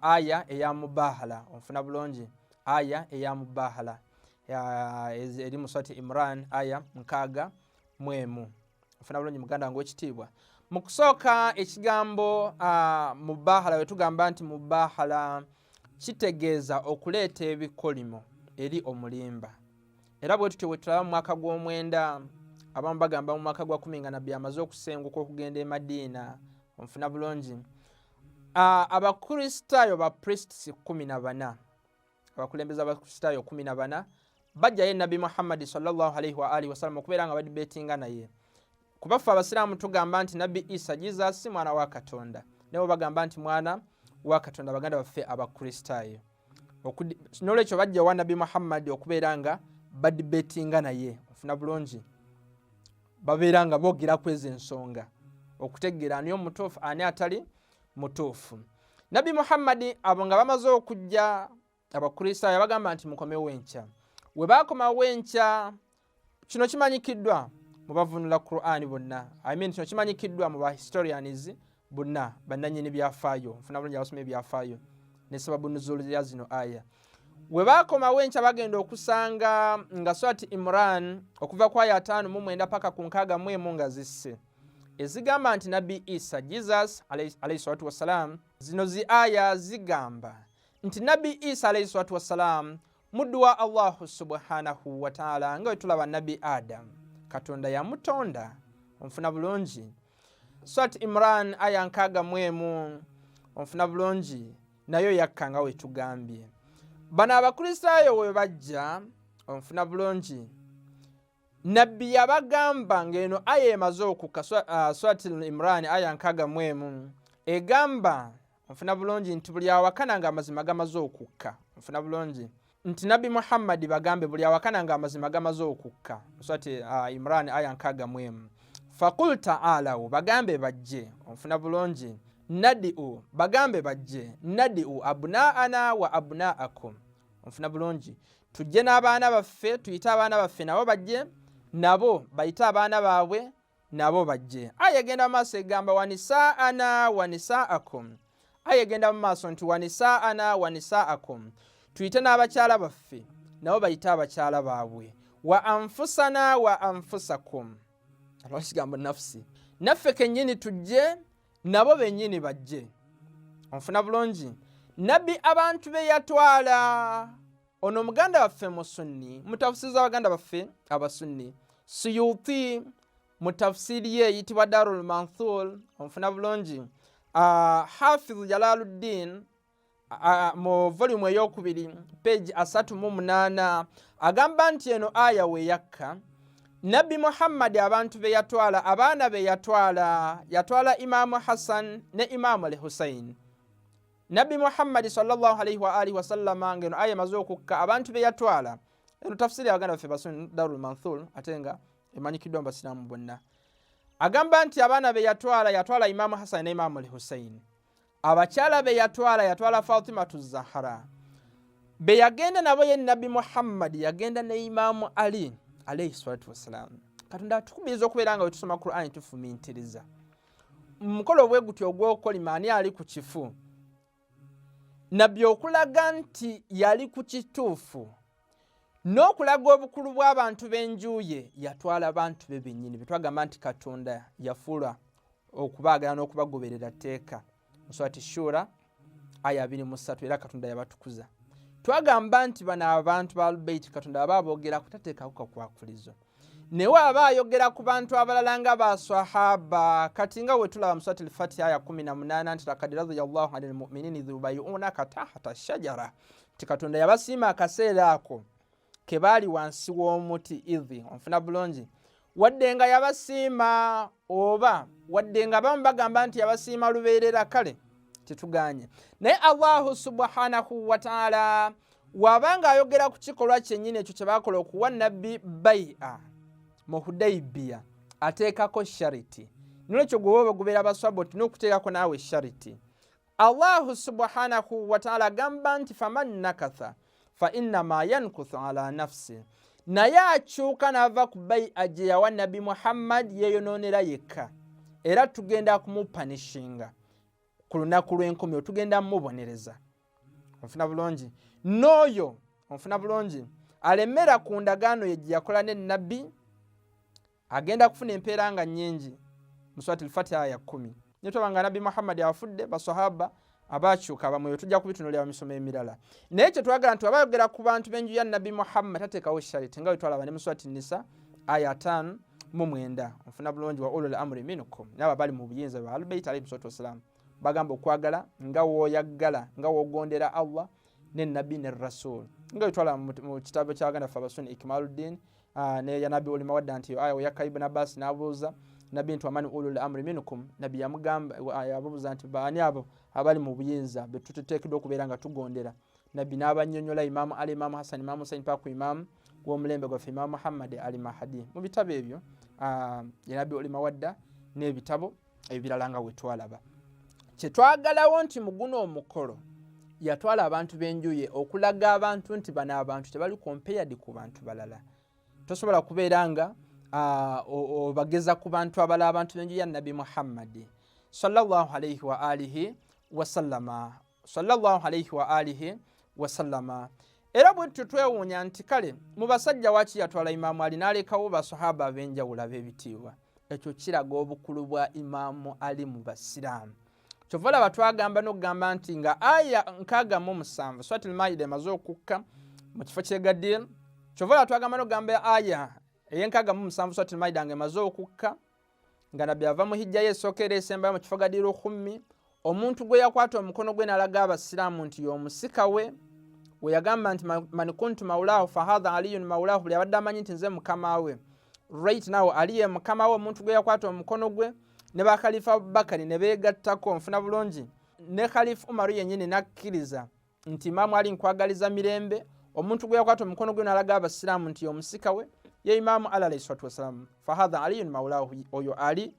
aya eya mubahala onfuna bulungi aya eya mubahala eri muswati imran aya nkaaga mwemu ofuna bulungi muganda wange wekitiibwa mu kusooka ekigambo mubahala wetugamba nti mubahala kitegeeza okuleeta ebikolimo eri omulimba era bwe tutyo bwetulaba mu mwaka gw'omwenda abamu bagamba mu mwaka gwa kumi nga nabbi amaze okusenguka okugenda e madiina onfuna bulungi abakristaayo ba priests kumi na bana abakulembeza abakristaayo kumi na bana bajjayo nabbi muhammadi salllah alaihi waalihi wasallam okubeera nga badi betinga naye kuba ffe abasiraamu tugamba nti nabbi isa jesus si mwana wa katonda naye bagamba nti mwana wa katonda baganda baffe abakristaayo nolwekyo bajjawa nabbi muhammadi okubeera nga badi betinga naye ofuna bulungi babeera nga boogera ku ezo ensonga okutegeera ani omutuufu ani atali mutuufu nabbi muhammadi abo nga bamaze okujja abakristaayo bagamba nti mukomewo enkya we baakomawo enkya kino kimanyikiddwa mu bavunula qurani bonna i mean kino kimanyikiddwa mu bahistorians bonna bannanyini byafaayo nfuna bulungi abasoma ebyafaayo ne sababu nuzulu ya zino aya we baakomawo enkya bagenda okusanga nga swati imran okuva ku aya ataano mu mwenda paka ku nkaaga mu emu nga zisse ezigamba nti nabbi isa jesus alaihi salatu wassalaamu zino zi aya zigamba nti nabbi isa alaihi salatu wassalaamu muddu wa allahu subhanahu wataala nga wetulaba nabbi adamu katonda yamutonda onfuna bulungi swat imran aya nkaaga mu emu onfuna bulungi nayo yakka nga wetugambye bano abakristaayo we bajja onfuna bulungi nabbi yabagamba ng'eno aya emaze okukka uh, swat imran aya nkaaga mu emu egamba nfuna bulungi nti buli awakana nga amazima gamaze okukka nfuna bulungi nti nabbi muhammadi bagambe buli awakana nga amazima gamaze okukka nswati uh, ah, imran aya nkaga mwemu fakul taalawo bagambe bajje onfuna bulungi nadiu bagambe bajje nadiu abunaana wa abunaakum onfuna bulungi tujje n'abaana baffe tuyite abaana baffe nabo bajje nabo bayite abaana baabwe nabo bajje aya egenda mu maaso egamba wanisaana wanisaakum aya egenda mu maaso nti wanisaana wanisaakum tuyite n'abakyala baffe nabo bayite abakyala baabwe wa anfusana wa anfusakum alwa kigambo nafusi naffe kennyini tujje nabo bennyini bajje onfuna bulungi nabbi abantu be yatwala ono muganda waffe musunni mutafusiri za baganda baffe abasunni suyuti mutafusiri ye eyitibwa darul manthur omufuna bulungi uh, hafiz jalaluddin uh, mu volumu eyokubiri page asatu mu munaana agamba nti eno aya weyakka nabbi muhammadi abantu be yatwala abaana be yatwala yatwala imaamu hassan ne imaamu al husaini nabbi muhammadi salllah alaihi waalihi wasallama nga eno aya emaze okukka abantu be yatwala eno tafsiri abaganda baffe basuni darul manthul ate nga emanyikiddwa mu basiraamu bonna agamba nti abaana be yatwala yatwala imaamu hasani ne imaamu lhusaini abakyala be yatwala yatwala fatimatu zahara be yagenda nabo ye nabbi muhammadi yagenda ne imaamu ali alaihi salatu wassalamu katonda atukubiriza okubeera nga wetusoma qurani tufumintiriza mukolo bwe gutyo ogw'okukolima ani ali ku kifu nabbi okulaga nti yali ku kituufu n'okulaga obukulu bw'abantu b'enjuuye yatwala bantu be bennyini betwagamba nti katonda yafuula okubaagala n'okubagoberera tteeka musurati shura aya 23 era katonda yabatukuza twagamba nti bano abantu ba lubeiti katonda baba aboogera kutateekako kakwakulizo naye aba ayogera ku bantu abalala nga baswahaba kati nga wetulaba musurati lfatiha aya 18 nti lakad radiallahu ani lmuminini dhubayuunaka tahta shajara nti katonda yabasiima akaseera ako ke baali wansi w'omuti idhi onfuna bulungi wadde nga yabasiima oba wadde nga bamu bagamba nti yabasiima lubeerera kale tetuganye naye allahu subhanahu wataala waba nga ayogera ku kikolwa kyennyini ekyo kye bakola okuwa nabbi bai'a mu hudaibiya ateekako shariti nolwekyo gwewoba ogubeera baswaba otina okuteekako naawe shariti allahu subhanahu wataala agamba nti faman nakatha fainama yankuthu ala nafsi naye akyuka nava ku bayi aje yawa nabbi muhammad yeyononera yekka era tugenda kumupanishinga ku lunaku lwenkumi otugenda mubonereza onfuna bulungi nooyo onfuna bulungi alemera ku ndagaano ye gyeyakola ne nabbi agenda kufuna empeera nga nyingi mu swati lfatiha ya kumi naye tulaba nga nabbi muhammadi afudde basahaba abakyuka bamwe tujja kubitunulira mu misomo emirala naye kyetwagala nti aba yogera ku bantu b'enju ya nabbi muhammad tateekawo shariti nga wetwalaba ne muswati nisa aya tano mu mwenda ofuna bulungi wa ulul amri minkum naabo abali mu buyinza bwa albeit alaihi salatu wassalaamu bagamba okwagala nga woyaggala nga wogondera allah ne nabbi ne rasul nga wetwalaba mu kitabo kyabaganda fe abasuni ikmaluddin Ah, naye ya nabbi olima wadda nti aya oyakka ibn abbas n'abuuza nabbi nti wamani ulul amri minkum nabbi yamugambayababuuza ah, nti baani abo abali mu buyinza betuteteekedwa okubeera nga tugondera nabbi n'abanyonyola imaamu ali imaamu hassan imaamu husain paku imaamu w'omulembe gwaffe imaamu muhammadi ali mahadi mu bitabo ebyo ah, ya nabbi olima wadda n'ebitabo ebirala nga wetwalaba kyetwagalawo nti muguno omukolo yatwala abantu benjuye okulaga abantu nti bano abantu tebali compared ku bantu balala tosobola kubeera nga obageza ku bantu abala abantu benjuye nabbi muhammadi sallallahu alaihi wa alihi wasallama sallallahu alaihi wa alihi wasallama era bwe tutyo twewuunya nti kale mu basajja waki yatwala imaamu ali n'alekawo basahaba ab'enjawulo ab'ebitiibwa ekyo kiraga obukulu bwa imaamu ali mu basiraamu kyova laba twagamba n'okugamba nti nga aya nkaaga mu musanvu swati lmaida emaze okukka mu kifo kyegadire kyova laba twagamba n'okugamba aya eyenkaaga mu musanvu swati lmaida nga emaze okukka nga nabbi ava mu hijja ye esooka era esembayo mu kifo gadiru khummi omuntu gwe yakwata omukono gwe nalaga abasiraamu nti y'omusika we we yagamba nti man kuntu maulahu fahadha aliyun maulahu buli abadde amanyi nti nze mukama we right now ali ye mukama we omuntu gwe yakwata omukono gwe ne bakhalifa abubakari ne beegattako nfuna bulungi ne khalifa umaru yennyini n'akkiriza nti imaamu ali nkwagaliza mirembe omuntu gwe yakwata omukono gwe nalaga abasiraamu nti omusika we ye imaamu ali alaihi salatu wassalamu fahadha aliyun maulahu oyo ali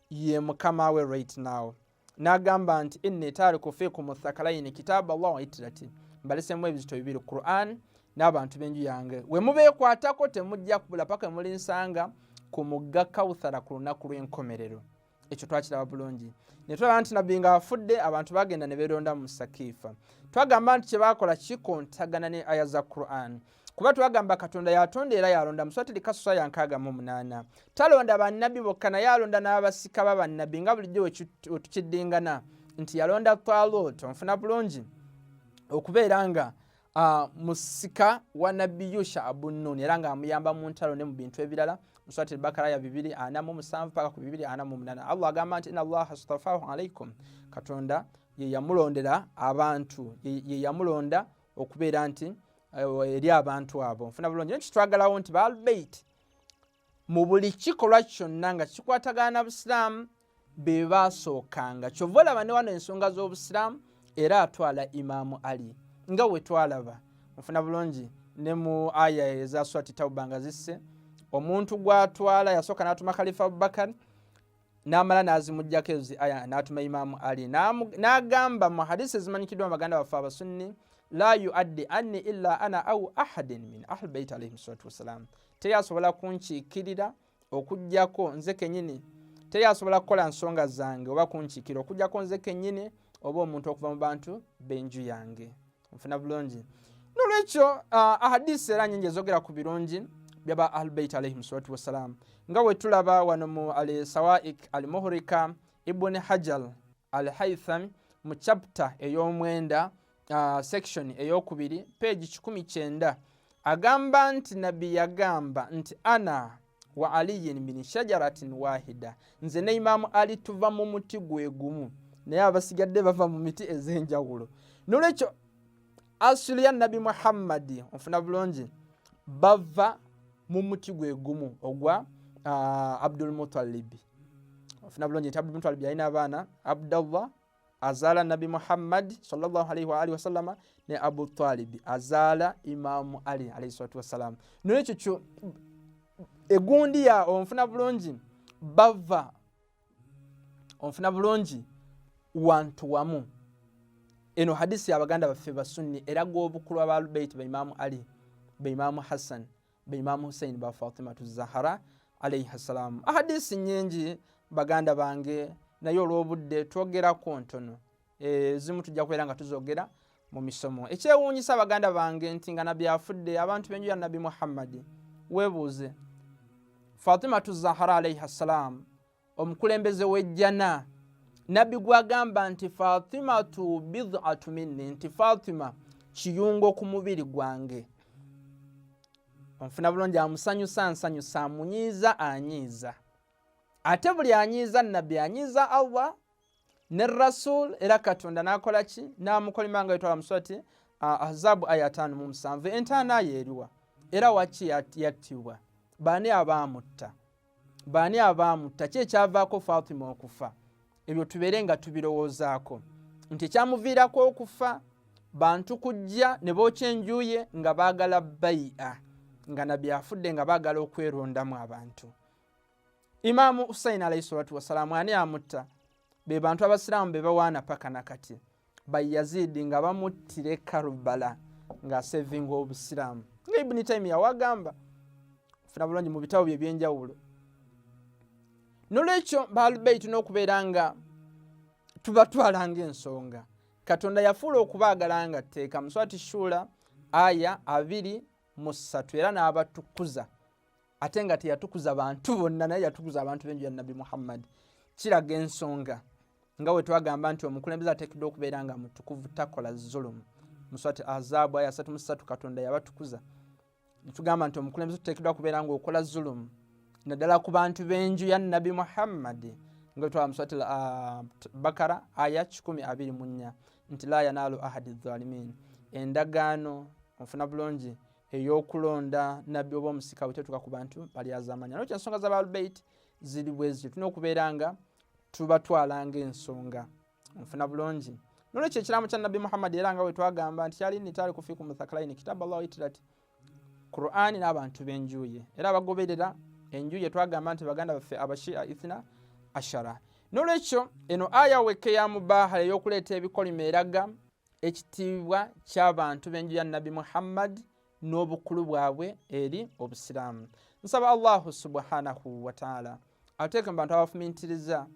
ye mukama we right now nagamba nti inni tariku fikum thakalaini kitabu allah waitirati mbalesemu ebizito bibiri quran n'abantu b'enju yange we mubeekwatako temujja kubula paka emulinsanga ku mugga kawuthara ku lunaku lw'enkomerero ekyo twakiraba bulungi ne tulaba nti nabbi nga afudde abantu bagenda ne beeronda mu sakiifa twagamba nti kye baakola kikontagana ne aya za quran kuba twagamba katonda yatonda era yalonda muswatiri kasusa yankaaga mu munaana talonda bannabbi bokka naye alonda n'abasika ba bannabbi nga bulijjo wetukiddingana nti yalonda talut onfuna bulungi okubeera nga Uh, musika wa nabbi yusha abu nun era nga amuyamba mu ntalo ne mu bintu ebirala muswati elbakara ya bibiri ana mu musanvu paka ku bibiri ana mu munana allah agamba nti ina allaha stafahu alaikum katonda yeyamulondera abantu yeyamulonda okubeera nti eh, eri abantu abo nfuna bulungi nekitwagalawo nti baalbeit mu buli kikolwa kyonna nga kikwatagana na busiraamu be baasookanga kyova olaba ne wano ensonga z'obusiraamu era atwala imaamu ali nga we twalaba mufuna bulungi ne mu aya ezaswati tauba nga zisse omuntu gwatwala yasooka n'atuma khalifa abubakari namala nazimujjako ezo zi aya natuma imamu ali nagamba mu hadisi ezimanyikiddwa baganda baffe abasunni la yuaddi anni illa ana au ahadin min ahli bait alaihim salatu wassalam teri asobola kunkiikirira okujjako nze kenyini teri asobola kukola nsonga zange oba kunkiikirira okujjako nze kenyini oba omuntu okuva mu bantu benju yange nfuna bulungi nolwekyo uh, ahadisi era nyingi ezogera ku birungi byaba ahlubeit alaihim salatu wassalam nga wetulaba wano mu al sawaik al muhurika ibuni hajal al haitham mu chapta ey'omwenda uh, section ey'okubiri peegi kikumi kyenda agamba nti nabbi yagamba nti ana wa aliyin min shajaratin wahida nze ne imamu ali tuva mu muti gwe gumu naye abasigadde bava mu miti ez'enjawulo nolwekyo asuli ya nabi muhammadi ofuna bulungi bava mu muti gwe gumu ogwa uh, abdulmutalibi ofuna bulungi nti abdulmutalibi yalina abaana abdallah azaala nabbi muhammadi salllah alaihi waalihi wasallama ne abu talibi azaala imamu ali alaihi salatu wassalamu nolwekyo kyo egundi ya onfuna bulungi bava onfuna bulungi wantu wamu eno hadisi yabaganda baffe basunni eraga obukulu abalubeiti baimamu ali baimamu hassan be imamu husaini ba fatimatu zahara alaihi ssalamu ahadisi nyingi baganda bange naye olw'obudde twogerako ntono ezimu eh, tujja kubeera nga tuzogera mu misomo ekyewuunyisa baganda bange nti nga nabbi afudde abantu b'enju ya nabbi muhammadi weebuuze fatimatu zahara alaihi ssalaamu omukulembeze w'ejjana nabbi gwagamba nti fatima tu bidatu minni nti fatima kiyungo ku mubiri gwange onfuna bulungi amusanyusa nsanyusa amunyiiza anyiiza ate buli anyiiza nabbi anyiiza allah ne rasul era katonda nakola ki namukolima nga yetwala muswati azabu aya atano mu musanvu entaana ayo eriwa era waki yattibwa baani abaamutta baani abaamutta ki ekyavaako fatima okufa ebyo tubeere nga tubirowoozaako nti ekyamuviirako okufa bantu kujja ne bookya enjuye nga baagala bai'a nga nabbi afudde nga baagala okwerondamu abantu imaamu husaini alaihi salatu wasalaamu ani amutta be bantu abasiraamu be bawaana paka nakati bayaziidi nga bamuttira e karubala nga asevinga obusiraamu nga ibuni taimi yawagamba funa bulungi mu bitabo bye byenjawulo nolwekyo baalubeitu n'okubeera nga tubatwala nga ensonga katonda yafuula okubaagala nga tteeka muswati shuula aya abiri mu ssatu era n'abatukuza ate nga teyatukuza bantu bonna naye yatukuza abantu benju ya nabbi muhammadi kiraga ensonga nga wetwagamba nti omukulembeze atekedwa okubeera nga mutukuvu takola zulumu muswati azabu aya asatu musatu katonda yabatukuza netugamba nti omukulembeze tutekedwa kubeera nga okola zulumu naddala ku bantu benju ya nabbi muhammadi nga wetwaba muswati ah, bakara aya kikumi abiri munya nti la yanaalu ahadi zalimin endagaano ofuna bulungi eyokulonda nabbi oba omusika bwetetuka ku bantu balyazamanya nokyo ensonga za baalubeit ziri bweziri tulina okubeera nga tubatwalanga ensonga nfuna bulungi nolwekyo ekiramu kya nabbi muhammadi era nga wetwagamba nti kyali nitaali kufiiku muthakalaini kitabu allah waitirat qurani n'abantu benjuye era abagoberera enjuye twagamba nti baganda baffe abashia ithna ashara nolwekyo eno aya wekka eyamubahala eyokuleeta ebikolimo eraga ekitiibwa ky'abantu b'enju ya nabbi muhammadi n'obukulu bwabwe eri obusiraamu nsaba allahu subhanahu wataala ateeke mu bantu abafumintiriza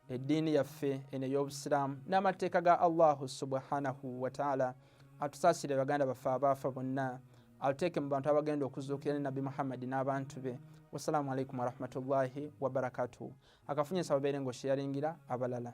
eddiini yaffe eno ey'obusiraamu n'amateeka ga allahu subhanahu wataala atusaasire baganda baffe abaafa bonna atuteeke mu bantu abagenda okuzuukira ne nabbi muhammadi n'abantu be wassalamu alaikum warahmatullahi wabarakatuhu akafunye nsaba beere ng'osheyaringira abalala